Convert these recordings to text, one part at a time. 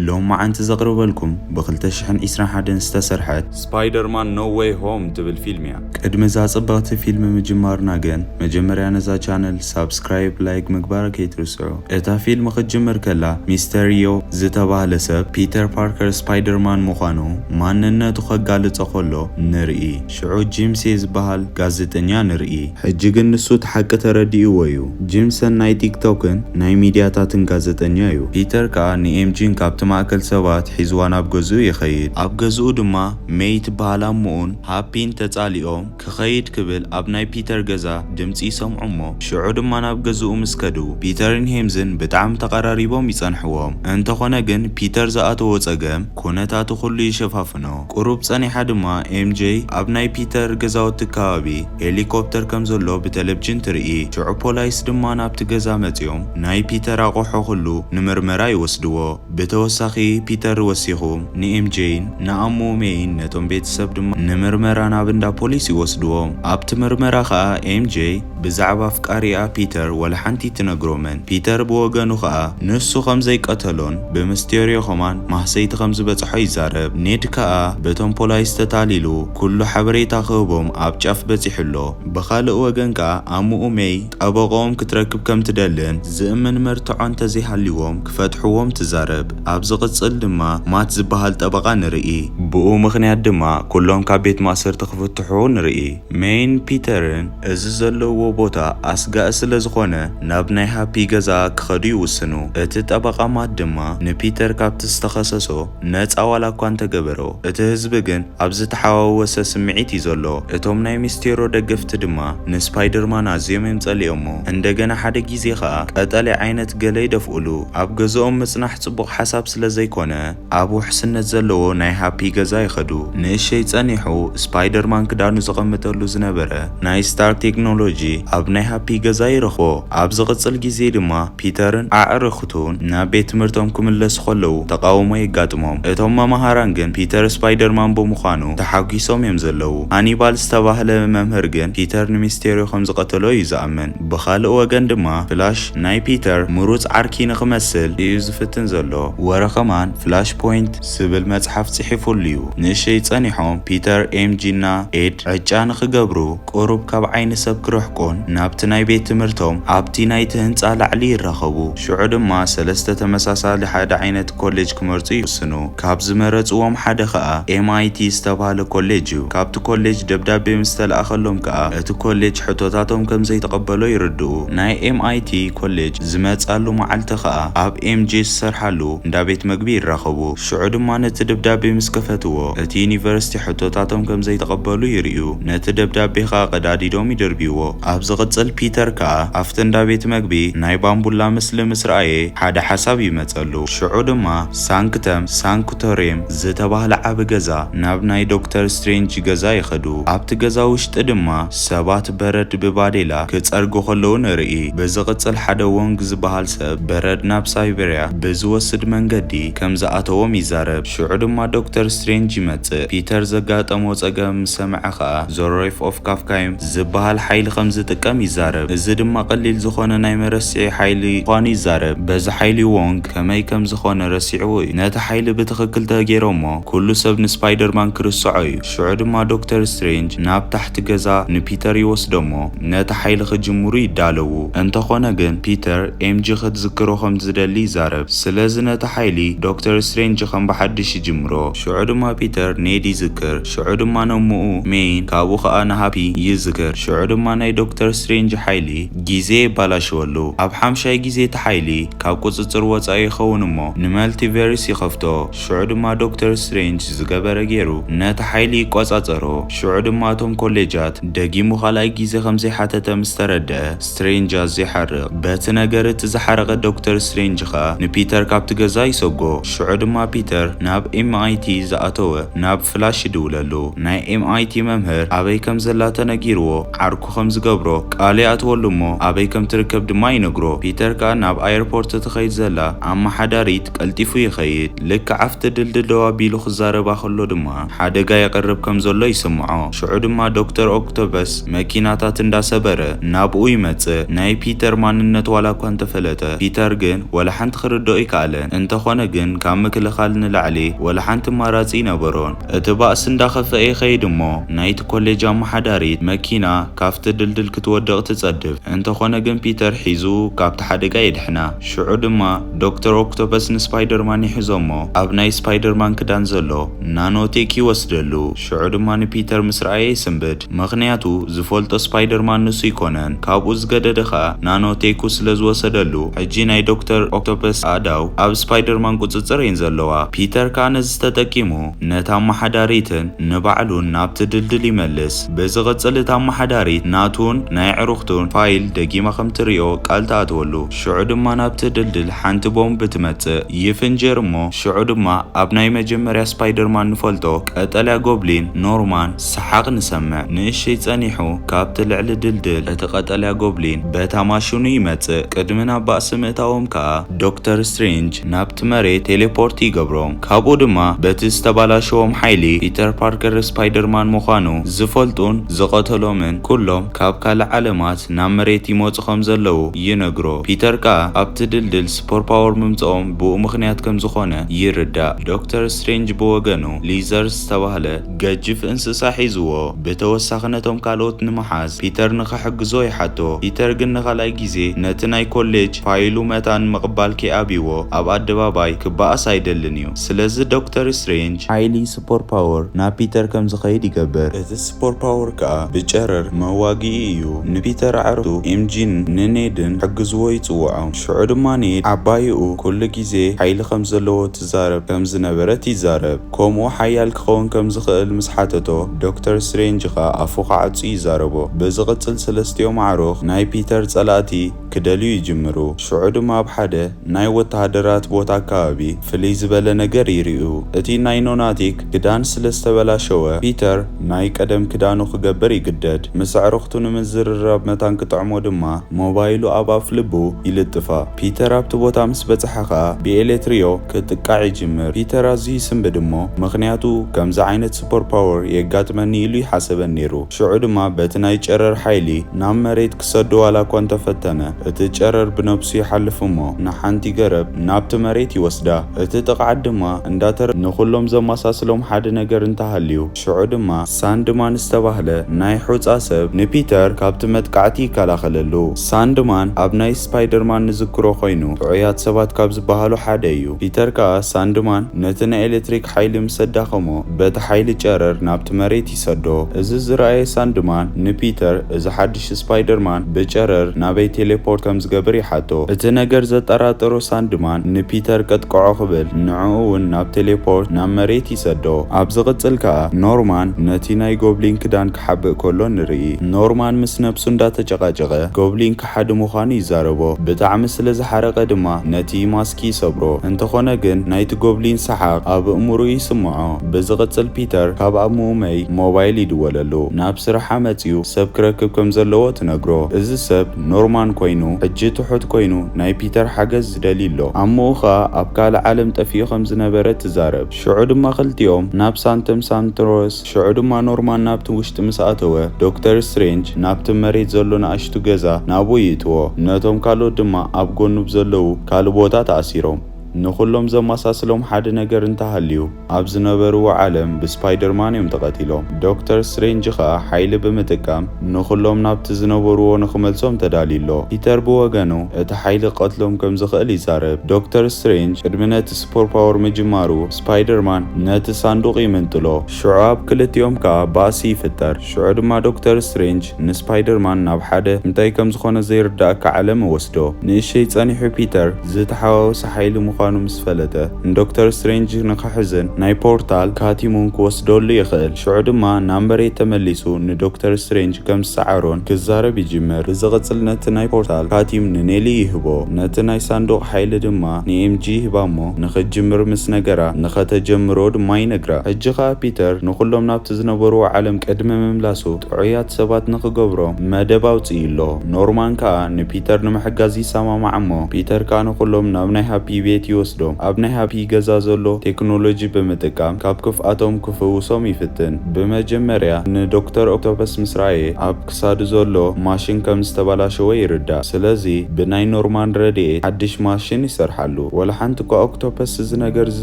ሎማዓንቲ ዘቅርበልኩም ብ ክልተ ሽሕን ዒስራን ሓደን ዝተሰርሐት። ስፓይደርማን ኖ ዌይ ሆም ትብል ፊልም እያ። ቅድሚ እዛ ጽብቅቲ ፊልም ምጅማርና ግን መጀመርያ ነዛ ቻነል ሳብስክራይብ ላይክ ምግባር ከይትርስዑ። እታ ፊልም ክትጅምር ከላ ሚስተርዮ ዝተባህለ ሰብ ፒተር ፓርከር ስፓይደርማን ምዃኑ ማንነቱ ከጋልጾ ከሎ ንርኢ። ሽዑ ጂምሴ ዝበሃል ጋዜጠኛ ንርኢ። ሕጂ ግን ንሱ እቲ ሓቂ ተረዲእዎ'ዩ። ጂምሰን ናይ ቲክቶክን ናይ ሚድያታትን ጋዜጠኛ'ዩ። ፒተር ከኣ ንኤምጂን ካብቲ ማእከል ሰባት ሒዝዋ ናብ ገዝኡ ይኸይድ። ኣብ ገዝኡ ድማ ሜይ ትበሃል ኣሞኡን ሃፒን ተጻሊኦም ክኸይድ ክብል ኣብ ናይ ፒተር ገዛ ድምጺ ይሰምዑ'ሞ ሽዑ ድማ ናብ ገዝኡ ምስ ከዱ ፒተርን ሄምዝን ብጣዕሚ ተቐራሪቦም ይጸንሕዎም። እንተኾነ ግን ፒተር ዝኣተዎ ጸገም ኩነታቱ ኩሉ ይሸፋፍኖ። ቁሩብ ጸኒሓ ድማ ኤምጀይ ኣብ ናይ ፒተር ገዛውቲ ከባቢ ሄሊኮፕተር ከም ዘሎ ብተለብጅን ትርኢ። ሽዑ ፖላይስ ድማ ናብቲ ገዛ መጺኦም ናይ ፒተር ኣቑሑ ኩሉ ንምርመራ ይወስድዎ። ብተወሳኺ ፒተር ወሲኹ ንኤምጀይን ንኣሞ ሜይን ነቶም ቤተሰብ ድማ ንምርመራ ናብ እንዳ ፖሊስ ይወስድዎም። ኣብቲ ምርመራ ከኣ ኤምጀይ። ብዛዕባ ኣፍቃሪኣ ፒተር ዋላ ሓንቲ ትነግሮምን። ፒተር ብወገኑ ከኣ ንሱ ከም ዘይቀተሎን ብምስቴርዮ ከማን ማህሰይቲ ከም ዝበጽሖ ይዛረብ። ኔድ ከኣ በቶም ፖላይስ ተታሊሉ ኩሉ ሓበሬታ ክህቦም ኣብ ጫፍ በጺሑ ኣሎ። ብኻልእ ወገን ከኣ ኣሙኡ ሜይ ጠበቕኦም ክትረክብ ከም ትደልን ዝእምን መርትዖ እንተ ዘይሃልይዎም ክፈትሕዎም ትዛረብ። ኣብ ዝቕጽል ድማ ማት ዝበሃል ጠበቓ ንርኢ። ብኡ ምኽንያት ድማ ኩሎም ካብ ቤት ማእሰርቲ ክፍትሑ ንርኢ። ሜይን ፒተርን። እዚ ዘለውዎ ቦታ ኣስጋኢ ስለ ዝኾነ ናብ ናይ ሃፒ ገዛ ክኸዱ ይውስኑ። እቲ ጠበቓ ማት ድማ ንፒተር ካብቲ ዝተኸሰሶ ነጻ ዋላኳ እንተገበሮ እቲ ህዝቢ ግን ኣብ ዝተሓዋወሰ ስምዒት እዩ ዘሎ። እቶም ናይ ሚስቴሮ ደገፍቲ ድማ ንስፓይደርማን ኣዝዮም እዮም ጸሊኦሞ። እንደገና ሓደ ግዜ ከኣ ቀጠልያ ዓይነት ገለ ይደፍኡሉ። ኣብ ገዝኦም ምጽናሕ ጽቡቕ ሓሳብ ስለ ዘይኮነ። ኣብ ውሕስነት ዘለዎ ናይ ሃፒ ገዛ ይኸዱ። ንእሸይ ጸኒሑ ስፓይደርማን ክዳኑ ዘቐምጠሉ ዝነበረ ናይ ስታርክ ቴክኖሎጂ ኣብ ናይ ሃፒ ገዛ ይረኽቦ። ኣብ ዝቕጽል ግዜ ድማ ፒተርን ኣዕርኽቱን ናብ ቤት ትምህርቶም ክምለሱ ከለዉ ተቓውሞ የጋጥሞም። እቶም መማህራን ግን ፒተር ስፓይደርማን ብምዃኑ ተሓጒሶም እዮም ዘለዉ። ሃኒባል ዝተባህለ መምህር ግን ፒተር ንሚስቴርዮ ከም ዝቐተሎ እዩ ዝኣምን። ብኻልእ ወገን ድማ ፍላሽ ናይ ፒተር ምሩጽ ዓርኪ ንኽመስል እዩ ዝፍትን ዘሎ። ወረ ከማን ፍላሽ ፖይንት ዝብል መጽሓፍ ጽሒፉሉ'ዩ። ንእሽይ ጸኒሖም ፒተር፣ ኤምጂ እና ኤድ ዕጫ ንኽገብሩ ቁሩብ ካብ ዓይኒ ሰብ ክርሕቁን ናብቲ ናይ ቤት ትምህርቶም ኣብቲ ናይቲ ህንጻ ላዕሊ ይራኸቡ። ሽዑ ድማ ሰለስተ ተመሳሳሊ ሓደ ዓይነት ኮሌጅ ክመርጹ ይውስኑ። ካብ ዝመረጽዎም ሓደ ከኣ MIT ዝተባህለ ኮሌጅ እዩ። ካብቲ ኮሌጅ ደብዳቤ ምስ ተላእከሎም ከኣ እቲ ኮሌጅ ሕቶታቶም ከም ዘይተቐበሎ ይርድኡ። ናይ MIT ኮሌጅ ዝመጻሉ መዓልቲ ከኣ ኣብ MJ ዝሰርሓሉ እንዳ ቤት መግቢ ይራኸቡ። ሽዑ ድማ ነቲ ደብዳቤ ምስ ከፈትዎ እቲ ዩኒቨርሲቲ ሕቶታቶም ከም ዘይተቐበሉ ይርእዩ። ነቲ ደብዳቤ ከኣ ቀዳዲዶም ይድርብይዎ። ኣብ ዝቕጽል ፒተር ከኣ ኣብቲ እንዳ ቤት መግቢ ናይ ባምቡላ ምስሊ ምስ ረኣየ ሓደ ሓሳብ ይመጽኣ። ቀጸሉ። ሽዑ ድማ ሳንክተም ሳንክቶርየም ዝተባህለ ዓቢ ገዛ ናብ ናይ ዶክተር ስትሬንጅ ገዛ ይኸዱ። ኣብቲ ገዛ ውሽጢ ድማ ሰባት በረድ ብባዴላ ክጸርጉ ከለዉ ንርኢ። ብዝቕጽል ሓደ ዎንግ ዝበሃል ሰብ በረድ ናብ ሳይበርያ ብዝወስድ መንገዲ ከም ዝኣተዎም ይዛረብ። ሽዑ ድማ ዶክተር ስትሬንጅ ይመጽእ። ፒተር ዘጋጠሞ ጸገም ምስ ሰምዐ ከኣ ዞሮሪፍ ኦፍ ካፍካይም ዝበሃል ሓይሊ ከም ዝጥቀም ይዛረብ። እዚ ድማ ቀሊል ዝኾነ ናይ መረስዒ ሓይሊ ምዃኑ ይዛረብ። በዚ ሓይሊ ዎንግ ከመይ ከም ዝኾነ ረሲዕዎ እዩ። ነቲ ሓይሊ ብትኽክል ተገይሮሞ ኩሉ ሰብ ንስፓይደርማን ክርስዖ እዩ። ሽዑ ድማ ዶክተር ስትሬንጅ ናብ ታሕቲ ገዛ ንፒተር ይወስዶ'ሞ ነቲ ሓይሊ ክጅምሩ ይዳለዉ። እንተኾነ ግን ፒተር ኤምጂ ክትዝክሮ ከም ዝደሊ ይዛረብ። ስለዚ ነቲ ሓይሊ ዶክተር ስትሬንጅ ከም ብሓድሽ ይጅምሮ። ሽዑ ድማ ፒተር ኔድ ይዝክር። ሽዑ ድማ ነ'ሞኡ ሜይን ካብኡ ከኣ ንሃፒ ይዝክር። ሽዑ ድማ ናይ ዶክተር ስትሬንጅ ሓይሊ ግዜ የባላሽወሉ። ኣብ ሓምሻይ ግዜ እቲ ሓይሊ ካብ ቁጽጽር ወጻኢ ይኸውን'ሞ ንመልቲቨርስ ይኸፍቶ። ሽዑ ድማ ዶክተር ስትሬንጅ ዝገበረ ገይሩ ነቲ ሓይሊ ይቆጻጸሮ። ሽዑ ድማ እቶም ኮሌጃት ደጊሙ ካልኣይ ግዜ ከም ዘይሓተተ ምስ ተረድኣ ስትሬንጅ ኣዝዩ ይሓርቕ። በቲ ነገር እቲ ዝሓረቐ ዶክተር ስትሬንጅ ከኣ ንፒተር ካብቲ ገዛ ይሰጎ። ሽዑ ድማ ፒተር ናብ ኤምኣይቲ ዝኣተወ ናብ ፍላሽ ይድውለሉ። ናይ ኤምኣይቲ መምህር ኣበይ ከም ዘላ ተነጊርዎ ዓርኩ ከም ዝገብሮ ቃል ይኣትወሉ እሞ ኣበይ ከም ትርከብ ድማ ይነግሮ። ፒተር ከኣ ናብ ኣየርፖርት እትኸይድ ዘላ ኣመሓዳሪት ቀልጢፉ ይኸይድ። ልክዕ ኣብቲ ድልድል ደው ኣቢሉ ክዛረባ ከሎ ድማ ሓደጋ ይቐርብ ከም ዘሎ ይስምዖ። ሽዑ ድማ ዶክተር ኦክቶፐስ መኪናታት እንዳ ሰበረ ናብኡ ይመጽእ። ናይ ፒተር ማንነት ዋላ እኳ እንተፈለጠ ፒተር ግን ወላ ሓንቲ ክርድኦ ኣይከኣለን። እንተኾነ ግን ካብ ምክልኻል ንላዕሊ ወላ ሓንቲ ኣማራጺ ኣይነበሮን። እቲ ባእሲ እንዳኸፍኣ ይኸይድ እሞ ናይቲ ኮሌጅ ኣመሓዳሪት መኪና ካብቲ ድልድል ክትወድቕ ትጸድፍ። እንተኾነ ግን ፒተር ሒዙ ካብቲ ሓደጋ የድሕና። ሽዑ ድማ ዶክተር ኦክቶፐስ ንስፓይደርማን ይሕዞ እሞ ኣብ ናይ ስፓይደርማን ክዳን ዘሎ ናኖቴክ ይወስደሉ። ሽዑ ድማ ንፒተር ምስ ረኣየ ይስንብድ። ምኽንያቱ ዝፈልጦ ስፓይደርማን ንሱ ኣይኮነን ካብኡ ዝገደደ ከኣ ናኖ ቴኩ ስለ ዝወሰደሉ ሕጂ ናይ ዶክተር ኦክቶፐስ ኣእዳው ኣብ ስፓይደርማን ቁጽጽር እየን ዘለዋ ፒተር ከኣ ነዚ ተጠቂሙ ነታ ኣማሓዳሪትን ንባዕሉን ናብቲ ድልድል ይመልስ ብዝቕጽል እታ ኣማሓዳሪት ናቱን ናይ ኣዕሩኽቱን ፋይል ደጊማ ከም ትርእዮ ቃል ትኣትወሉ ሽዑ ድማ ናብቲ ድልድል ሓንቲ ቦምብ ትመጽእ ይፍንጀር እሞ ሽዑ ድማ ኣብ ናይ መጀመርያ ስፓይደርማን ንፈልጦ ቀጠልያ ጎብሊን ኖርማን ሰሓቕ ንሰምዕ። ንእሽይ ጸኒሑ ካብቲ ልዕሊ ድልድል እቲ ቀጠልያ ጎብሊን በታ ማሽኑ ይመጽእ። ቅድሚ ናብ ባእሲ ምእታዎም ከኣ ዶክተር ስትሬንጅ ናብቲ መሬት ቴሌፖርት ይገብሮም። ካብኡ ድማ በቲ ዝተባላሸዎም ሓይሊ ፒተር ፓርከር ስፓይደርማን ምዃኑ ዝፈልጡን ዝቐተሎምን ኩሎም ካብ ካልእ ዓለማት ናብ መሬት ይመጹ ከም ዘለዉ ይነግሮ። ፒተር ከኣ ኣብቲ ድልድል ሱፐርፓወር ምምጽኦም ብኡ ምኽንያት ከም ዝኾነ ይርዳእ። ዶክተር ስትሬንጅ ብወገኑ ሊዘርስ ዝተባህለ። ገጅፍ እንስሳ ሒዝዎ፣ ብተወሳኺ ነቶም ካልኦት ንምሓዝ ፒተር ንኽሕግዞ ይሓቶ። ፒተር ግን ንኻልኣይ ግዜ ነቲ ናይ ኮሌጅ ፋይሉ መታን ምቕባል ከይኣብዩዎ ኣብ ኣደባባይ ክበኣስ ኣይደልን እዩ። ስለዚ ዶክተር ስትሬንጅ፣ ሓይሊ፣ ስፖር ፓወር፣ ናብ ፒተር ከም ዝኸይድ ይገብር። እቲ ስፖር ፓወር ከኣ ብጨረር መዋግኢ እዩ። ንፒተር ኣዕርኽቱ ኤምጂን ንኔድን ክሕግዝዎ ይጽውዖም። ሽዑ ድማ ኔድ ዓባይኡ ኩሉ ግዜ ሓይሊ ከም ዘለዎ ትዛረብ ከም ዝነበረት ይዛረብ። ከምኡ ሓያል ክኸውን ከም ዝኽእል ምስ ሓተቶ፣ ዶክተር ስትሬንጅ ኸኣ ኣፉ ክዓጹ ይዛረቦ። ብዝቕጽል ሰለስቲኦም ኣዕሩኽ ናይ ፒተር ጸላእቲ ክደልዩ ይጅምሩ። ሽዑ ድማ ኣብ ሓደ ናይ ወተሃደራት ቦታ ኣከባቢ ፍልይ ዝበለ ነገር ይርእዩ። እቲ ናይ ኖናቲክ ክዳን ስለ ዝተበላሸወ፣ ፒተር ናይ ቀደም ክዳኑ ክገብር ይግደድ። ምስ ኣዕሩኽቱ ንምዝርራብ መታን ክጥዕሞ ድማ ሞባይሉ ኣብ ኣፍልቡ ይልጥፋ። ፒተር ኣብቲ ቦታ ምስ በጽሐ ከኣ ብኤሌትርዮ ክጥቃዕ ይጅምር። ፒተር ኣዝዩ ይስንብድ እሞ ምኽንያቱ ከምዚ ዓይነት ሱፐር ፓወር የጋጥመኒ ኢሉ ኣይሓሰበን ነይሩ። ሽዑ ድማ በቲ ናይ ጨረር ሓይሊ ናብ መሬት ክሰዶ ዋላ እኳ እንተፈተነ እቲ ጨረር ብነብሱ ይሓልፍ እሞ ንሓንቲ ገረብ ናብቲ መሬት ይወስዳ። እቲ ጥቕዓት ድማ እንዳተረ ንኹሎም ዘማሳስሎም ሓደ ነገር እንተሃልዩ፣ ሽዑ ድማ ሳንድማን ዝተባህለ ናይ ሑጻ ሰብ ንፒተር ካብቲ መጥቃዕቲ ይከላኸለሉ። ሳንድማን ኣብ ናይ ስፓይደርማን ንዝክሮ ኮይኑ ጥዑያት ሰባት ካብ ዝበሃሉ ሓደ እዩ። ፒተር ከኣ ሳንድማን ነቲ ናይ ኤለትሪክ ሓይሊ ምስ ኣዳኸሞ በቲ ሓይሊ ጨረር ናብቲ መሬት ይሰዶ። እዚ ዝረኣየ ሳንድማን ንፒተር እዚ ሓድሽ ፍላሽ ስፓይደርማን ብጨረር ናበይ ቴሌፖርት ከም ዝገብር ይሓቶ። እቲ ነገር ዘጠራጠሮ ሳንድማን ንፒተር ቀጥቅዖ ክብል ንዕኡ እውን ናብ ቴሌፖርት ናብ መሬት ይሰዶ። ኣብ ዝቕጽል ከኣ ኖርማን ነቲ ናይ ጎብሊን ክዳን ክሓብእ ከሎ ንርኢ። ኖርማን ምስ ነብሱ እንዳተጨቓጨቐ ጎብሊን ከሓዲ ምዃኑ ይዛረቦ። ብጣዕሚ ስለ ዝሓረቐ ድማ ነቲ ማስኪ ይሰብሮ። እንተኾነ ግን ናይቲ ጎብሊን ሰሓቕ ኣብ ኣእምሮኡ ይስምዖ። ብዝቕጽል ፒተር ካብ ኣብ ምኡመይ ሞባይል ይድወለሉ ናብ ስራሓ መጺኡ ሰብ ክረክብ ከምዘለዎ ትነግሮ እዚ ሰብ ኖርማን ኮይኑ ሕጂ ትሑት ኮይኑ ናይ ፒተር ሓገዝ ዝደልይ ኣሎ ኣሙኡ ከኣ ኣብ ካልእ ዓለም ጠፊኡ ከምዝነበረ ትዛረብ ሽዑ ድማ ክልቲኦም ናብ ሳንተም ሳንትሮስ ሽዑ ድማ ኖርማን ናብቲ ውሽጢ ምስ ኣተወ ዶክተር ስትሬንጅ ናብቲ መሬት ዘሎ ንኣሽቱ ገዛ ናብኡ ይእትዎ ነቶም ካልኦት ድማ ኣብ ጎኑ ብዘለዉ ካልእ ቦታ ተኣሲሮም ንኹሎም ዘማሳስሎም ሓደ ነገር እንተሃልዩ ኣብ ዝነበርዎ ዓለም ብስፓይደርማን እዮም ተቐቲሎም። ዶክተር ስትሬንጅ ኸኣ ሓይሊ ብምጥቃም ንኹሎም ናብቲ ዝነበርዎ ንኽመልሶም ተዳልዩ ኣሎ። ፒተር ብወገኑ እቲ ሓይሊ ክቐትሎም ከም ዝኽእል ይዛረብ። ዶክተር ስትሬንጅ ቅድሚ ነቲ ስፖርፓወር ምጅማሩ ስፓይደርማን ነቲ ሳንዱቕ ይምንጥሎ። ሽዑ ኣብ ክልቲኦም ከኣ ባእሲ ይፍጠር። ሽዑ ድማ ዶክተር ስትሬንጅ ንስፓይደርማን ናብ ሓደ እንታይ ከም ዝኾነ ዘይርደኣካ ዓለም እወስዶ። ንእሽይ ጸኒሑ ፒተር ዝተሓዋወሰ ሓይሊ ምዃኑ ምስ ፈለጠ ንዶክተር ስትሬንጅ ንኽሕዝን ናይ ፖርታል ካቲሙን ክወስደሉ ይኽእል። ሽዑ ድማ ናብ መሬት ተመሊሱ ንዶክተር ስትሬንጅ ከም ዝሰዓሮን ክዛረብ ይጅምር። ብዝቕጽል ነቲ ናይ ፖርታል ካቲም ንኔሊ ይህቦ። ነቲ ናይ ሳንዱቕ ሓይሊ ድማ። ንኤምጂ ይህባ እሞ ንኽትጅምር ምስ ነገራ፣ ንኸተጀምሮ ድማ ይነግራ። ሕጂ ኸኣ ፒተር ንዅሎም ናብቲ ዝነበርዎ ዓለም ቅድሚ ምምላሱ ጥዑያት ሰባት ንኽገብሮም መደብ ኣውጺኡ ኣሎ። ኖርማን ከኣ ንፒተር ንምሕጋዝ ይሰማማዕ እሞ ፒተር ከኣ ንዅሎም ናብ ናይ ሃፒ ቤት ይወስዶም። ኣብ ናይ ሃፒ ገዛ ዘሎ ቴክኖሎጂ ብምጥቃም ካብ ክፍኣቶም ክፍውሶም ይፍትን። ብመጀመርያ ንዶክተር ኦክቶፐስ ምስ ረኣየ ኣብ። ክሳዱ ዘሎ ማሽን ከም ዝተባላሸወ ይርዳእ ስለዚ ብናይ ኖርማን ረድኤት ሓድሽ ማሽን ይሰርሓሉ ወላ ሓንቲ እኳ ኦክቶፐስ እዚ ነገር እዚ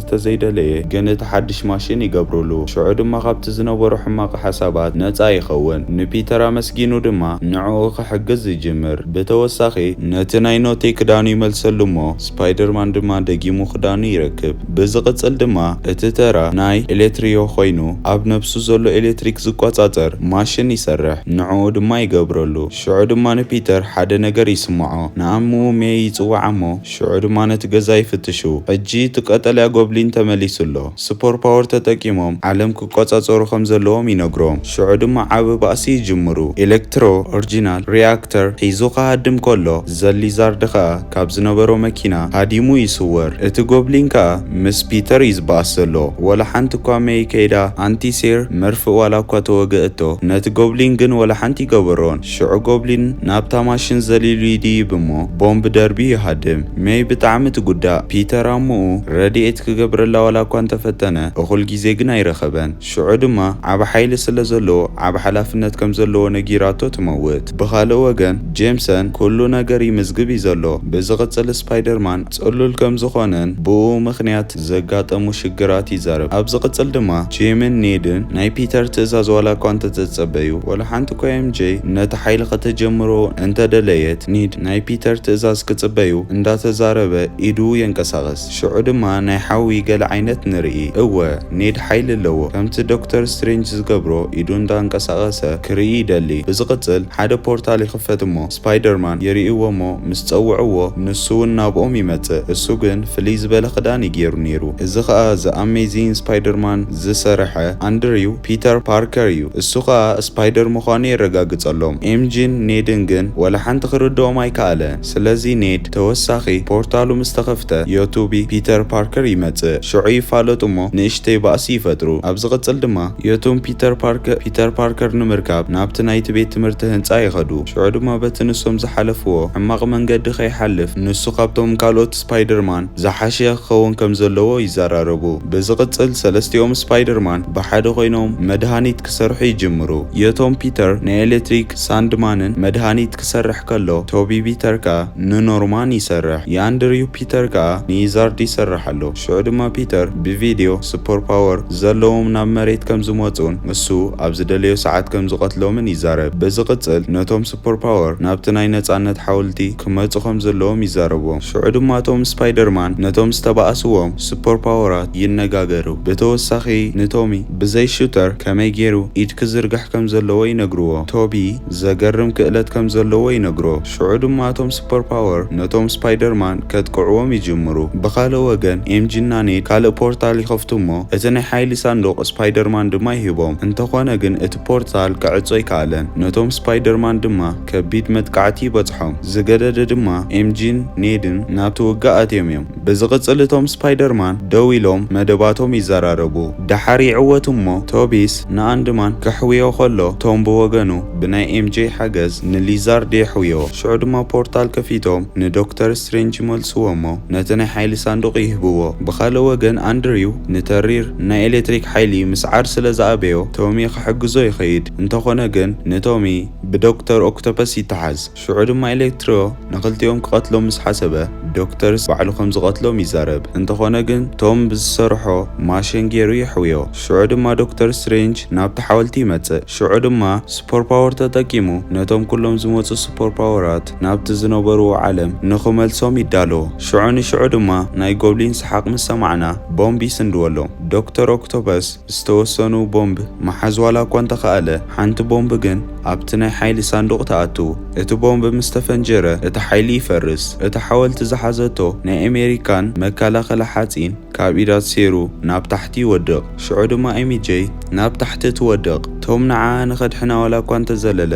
ተዘይደለየ ግን እቲ ሓድሽ ማሽን ይገብሩሉ ሽዑ ድማ ካብቲ ዝነበሮ ሕማቅ ሓሳባት ነጻ ይኸውን ንፒተር ኣመስጊኑ ድማ ንዕኡ ክሕግዝ ይጅምር ብተወሳኺ ነቲ ናይ ኖቴ ክዳኑ ይመልሰሉ እሞ ስፓይደርማን ድማ ደጊሙ ክዳኑ ይረክብ። ብዝቕጽል ድማ እቲ ተራ ናይ ኤሌትሪዮ ኮይኑ ኣብ ነብሱ ዘሎ ኤሌትሪክ ዝቆጻጸር ማሽን ይሰርሕ። ንዕኡ ድማ ይገብረሉ። ሽዑ ድማ ንፒተር ሓደ ነገር ይስምዖ። ንኣምኡ ሜይ ይጽውዓ እሞ ሽዑ ድማ ነቲ ገዛ ይፍትሹ። ሕጂ እቲ ቀጠልያ ጎብሊን ተመሊሱ ኣሎ። ስፖር ፓወር ተጠቂሞም ዓለም ክቆጻጸሩ ከም ዘለዎም ይነግሮም። ሽዑ ድማ ዓቢ ባእሲ ይጅምሩ። ኤሌክትሮ ኦርጂናል ሪኣክተር ሒዙ ክሃድም ከሎ ዘሊዛርድ ከኣ ካብ ዝነበሮ መኪና ሃዲሙ ይስወር። እቲ ጎብሊን ከኣ ምስ ፒተር እዩ ዝበኣስ ዘሎ። ወላ ሓንቲ እኳ መይ ከይዳ ኣንቲ ሴር መርፍእ ዋላ እኳ ተወገእቶ ነቲ ጎብሊን ግን ወላ ሓንቲ ይገበሮን። ሽዑ ጎብሊን ናብታ ማሽን ዘሊሉ ይድይብ እሞ ቦምብ ደርብዩ ይሃድም። መይ ብጣዕሚ ትጉዳእ። ፒተር ኣሙኡ ረዲኤት ክገብረላ ዋላ እኳ እንተፈተነ እኹል ግዜ ግን ኣይረኸበን። ሽዑ ድማ ዓቢ ሓይሊ ስለ ዘለዎ ዓቢ ሓላፍነት ከም ዘለዎ ነጊራቶ ትመውት። ብኻልእ ወገን ጄምሰን ኩሉ ነገር ይምዝግብ እዩ ዘሎ። ብዝቕጽል ስፓይደርማን ጽሉል ከም ዝኾነን ብእኡ ምኽንያት ዘጋጠሙ ሽግራት ይዛረብ። ኣብ ዝቕጽል ድማ ጂምን ኔድን ናይ ፒተር ትእዛዝ ዋላኳ እንተተጸበዩ ወላ ሓንቲኳ MJ ነቲ ሓይሊ ከተጀምሮ እንተደለየት ኒድ ናይ ፒተር ትእዛዝ ክጽበዩ እንዳተዛረበ ኢዱ የንቀሳቕስ። ሽዑ ድማ ናይ ሓዊ ገለ ዓይነት ንርኢ። እወ፣ ኔድ ሓይሊ ኣለዎ። ከምቲ ዶክተር ስትሬንጅ ዝገብሮ ኢዱ እንዳንቀሳቐሰ ክርኢ ይደሊ። ብዝቕጽል ሓደ ፖርታል ይኽፈት እሞ ስፓይደርማን ይርእይዎ እሞ ምስ ጸውዕዎ ንሱውን ናብኦም ይመጽእ። እሱ ግን ፍልይ ዝበለ ክዳን እዩ ጌሩ ኔሩ። እዚ ኸኣ ዘ ኣሜዚን ስፓይደርማን ዝሰረሐ ኣንድሪው ፒተር ፓርከር እዩ። እሱ ኸኣ ስፓይደር ምዃኑ የረጋግጸሎም። ኤምጂን ኔድን ግን ወላ ሓንቲ ክርድኦም ኣይከኣለን። ስለዚ ኔድ ተወሳኺ ፖርታሉ ምስ ተኸፍተ ዮቱቢ ፒተር ፓርከር ይመጽእ ሽዑ ይፋለጡ እሞ ንእሽተይ ባእሲ ይፈጥሩ ኣብ ዝቕጽል ድማ ዮቱም ፒተር ፓርከር ፒተር ፓርከር ንምርካብ ናብቲ ናይቲ ቤት ትምህርቲ ህንጻ ይኸዱ ሽዑ ድማ በቲ ንሶም ዝሓለፍዎ ሕማቕ መንገዲ ከይሓልፍ ንሱ ካብቶም ካልኦት ስፓይደርማን ዝሓሸ ክኸውን ከም ዘለዎ ይዘራረቡ ብዝቕጽል ሰለስቲኦም ስፓይደርማን ብሓደ ኮይኖም መድሃኒት ክሰርሑ ይጅምሩ ዮቶም ፒተር ናይ ኤለትሪክ ሳንድማንን መድሃኒት ክሰርሕ ከሎ፣ ቶቢ ቢተር ከኣ ንኖርማን ይሰርሕ፣ የኣንድርዩ ፒተር ከኣ ንይዛርድ ይሰርሕ ኣሎ። ሽዑ ድማ ፒተር ብቪድዮ ሱፐር ፓወር ዘለዎም ናብ መሬት ከም ዝመጽኡን እሱ ኣብ ዝደለዮ ሰዓት ከም ዝቐትሎምን ይዛረብ። ብዝቕጽል ነቶም ሱፐር ፓወር ናብቲ ናይ ነጻነት ሓውልቲ ክመጹ ከም ዘለዎም ይዛረቦም። ሽዑ ድማ እቶም ስፓይደርማን ነቶም ዝተባኣስዎም ሱፐር ፓወራት ይነጋገሩ። ብተወሳኺ ንቶሚ ብዘይ ሹተር ከመይ ጌሩ ኢድ ክዝርግሕ ከም ዘለዎ ይነግርዎ። ቶቢ። ዘገርም ክእለት ከም ዘለዎ ይነግሮ። ሽዑ ድማ እቶም ሱፐር ፓወር ነቶም ስፓይደርማን ከጥቅዕዎም ይጅምሩ። ብኻልእ ወገን ኤምጂ እና ኔድ ካልእ ፖርታል ይኸፍቱ እሞ እቲ ናይ ሓይሊ ሳንዱቕ ስፓይደርማን ድማ ይህቦም። እንተኾነ ግን እቲ ፖርታል ክዕጾ ኣይከኣለን። ነቶም ስፓይደርማን ድማ ከቢድ መጥቃዕቲ ይበጽሖም። ዝገደደ ድማ ኤምጂን ኔድን ናብቲ ውግእ ኣትዮም እዮም። ብዝቕጽል እቶም ስፓይደርማን ደው ኢሎም መደባቶም ይዘራረቡ። ደሓር ይዕወቱ እሞ ቶቢስ ንኣንድማን ከሕውዮ ከሎ ቶም ብወገኑ ብናይ ኤምጄ ሓገዝ ንሊዛርድ የሕውዮ። ሽዑ ድማ ፖርታል ከፊቶም ንዶክተር ስትሬንጅ ይመልስዎ እሞ ነቲ ናይ ሓይሊ ሳንዱቕ ይህብዎ። ብኻልእ ወገን ኣንድሪው ንተሪር ናይ ኤለትሪክ ሓይሊ ምስዓር ስለ ዝኣበዮ ቶሚ ክሕግዞ ይኸይድ። እንተኾነ ግን ንቶሚ ብዶክተር ኦክቶፐስ ይተሓዝ። ሽዑ ድማ ኤሌክትሪዮ ንኽልቲኦም ክቐትሎም ምስ ሓሰበ ዶክተርስ ባዕሉ ከም ዝቐትሎም ይዛረብ። እንተኾነ ግን ቶም ብዝሰርሖ ማሽን ጌሩ የሕውዮ። ሽዑ ድማ ዶክተር ስትሬንጅ ናብቲ ሓወልቲ ይመጽእ። ሽዑ ድማ ሱፐር ፓወር ተጠቂሙ ነቶም ኩሎም ዝመጹ ሱፐር ፓወራት ናብቲ ዝነበርዎ ዓለም ንኽመልሶም ይዳሎ። ሽዑ ንሽዑ ድማ ናይ ጎብሊን ሰሓቕ ምስ ሰማዕና ቦምብ ይስንድወሎም። ዶክተር ኦክቶፐስ። ዝተወሰኑ ቦምብ ምሓዝ ዋላ እኳ እንተኸኣለ፣ ሓንቲ ቦምብ ግን ኣብቲ ናይ ሓይሊ ሳንዱቕ ትኣቱ። እቲ ቦምብ ምስ ተፈንጀረ እቲ ሓይሊ ይፈርስ። እታ ሓወልቲ ዝሓዘቶ ናይ ኣሜሪካን መከላኸሊ ሓጺን ካብ ኢዳ ተሰይሩ ናብ ታሕቲ ይወድቕ። ሽዑ ድማ ኤሚጀይ ናብ ታሕቲ ትወድቕ። ቶም ንዓኣ ንኸድሕና ዋላ እኳ እንተዘለለ፣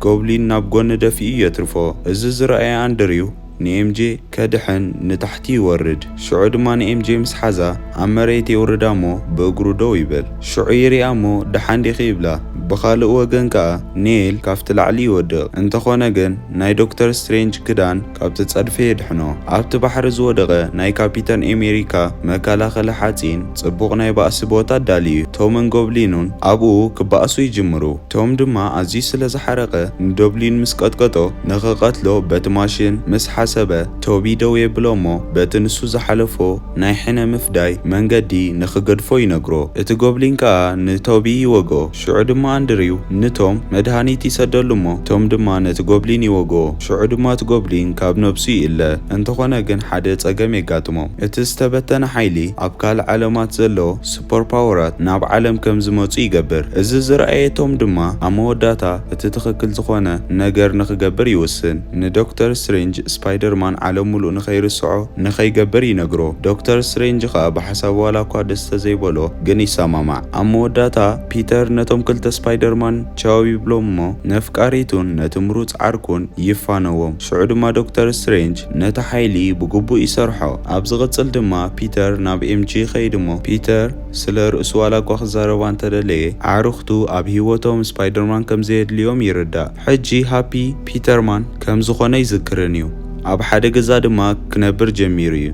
ጎብሊን ናብ ጎኒ ደፊኡ የትርፎ። እዚ ዝረኣየ ኣንድሪው፣ ንኤምጄ ከድሕን ንታሕቲ ይወርድ ሽዑ ድማ ንኤምጄ ምስ ሓዛ ኣብ መሬት የውርዳ እሞ ብእግሩ ደው ይበል ሽዑ ይሪኣ እሞ ድሓን ዲኺ ይብላ ብኻልእ ወገን ከኣ ኔል ካብቲ ላዕሊ ይወድቕ እንተኾነ ግን ናይ ዶክተር ስትሬንጅ ክዳን ካብቲ ጸድፊ የድሕኖ ኣብቲ ባሕሪ ዝወደቐ ናይ ካፒተን ኤሜሪካ መከላኸሊ ሓጺን ጽቡቕ ናይ ባእሲ ቦታ ኣዳልዩ ቶምን ጎብሊኑን ኣብኡ ክባኣሱ ይጅምሩ ቶም ድማ ኣዝዩ ስለ ዝሓረቐ ንዶብሊን ምስ ቀጥቀጦ ንኽቐትሎ በቲ ማሽን ምስ ሓሰበ ቶቢ ደው የብሎ'ሞ በቲ ንሱ ዝሓለፎ ናይ ሕነ ምፍዳይ መንገዲ ንኽገድፎ ይነግሮ። እቲ ጎብሊን ከኣ ንቶቢ ይወግኦ። ሽዑ ድማ ኣንድሪው ንቶም መድሃኒት ይሰደሉ'ሞ ቶም ድማ ነቲ ጎብሊን ይወግኦ። ሽዑ ድማ እቲ ጎብሊን ካብ ነብሱ ይእለ። እንተኾነ ግን ሓደ ጸገም የጋጥሞም። እቲ ዝተበተነ ሓይሊ ኣብ ካልእ ዓለማት ዘሎ ሱፐርፓወራት ናብ ዓለም ከም ዝመጹ ይገብር። እዚ ዝረኣየቶም ድማ ኣብ መወዳእታ እቲ ትኽክል ዝኾነ ነገር ንኽገብር ይውስን። ንዶክተር ስትሬንጅ ስፓይደርማን ዓለም ምሉእ ንኸይርስዖ ንኸይገብር ይነግሮ። ዶክተር ስትሬንጅ ኸኣ ብሓሳቡ ዋላኳ ደስ ተዘይበሎ ግን ይሰማማዕ። ኣብ መወዳእታ ፒተር ነቶም ክልተ ስፓይደርማን ቻው ይብሎም'ሞ ነፍቃሪቱን ነቲ ምሩጽ ዓርኩን ይፋነዎም። ሽዑ ድማ ዶክተር ስትሬንጅ። ነቲ ሓይሊ ብግቡእ ይሰርሖ። ኣብ ዝቕጽል ድማ ፒተር ናብ ኤምጂ ይኸይድ'ሞ፣ ፒተር ስለ ርእሱ ዋላ'ኳ ክዛረባ እንተደለየ፣ ኣዕሩኽቱ ኣብ ህይወቶም ስፓይደርማን ከም ዘየድልዮም ይርዳእ። ሕጂ ሃፒ ፒተርማን ከም ዝዀነ ይዝክርን'ዩ። ኣብ ሓደ ገዛ ድማ ክነብር ጀሚሩ'ዩ።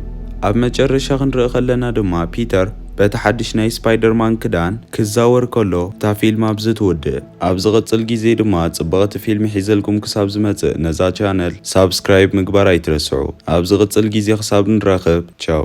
ኣብ መጨረሻ ክንርኢ ከለና ድማ ፒተር በቲ ሓድሽ ናይ ስፓይደርማን ክዳን ክዛወር ከሎ እታ ፊልም ኣብዚ ትውድእ። ኣብ ዝቅጽል ግዜ ድማ ጽብቅቲ ፊልሚ ሒዘልኩም ክሳብ ዝመጽእ ነዛ ቻነል ሳብስክራይብ ምግባር ኣይትረስዑ ኣብ ዝቅጽል ግዜ ክሳብ ንራከብ ቻው።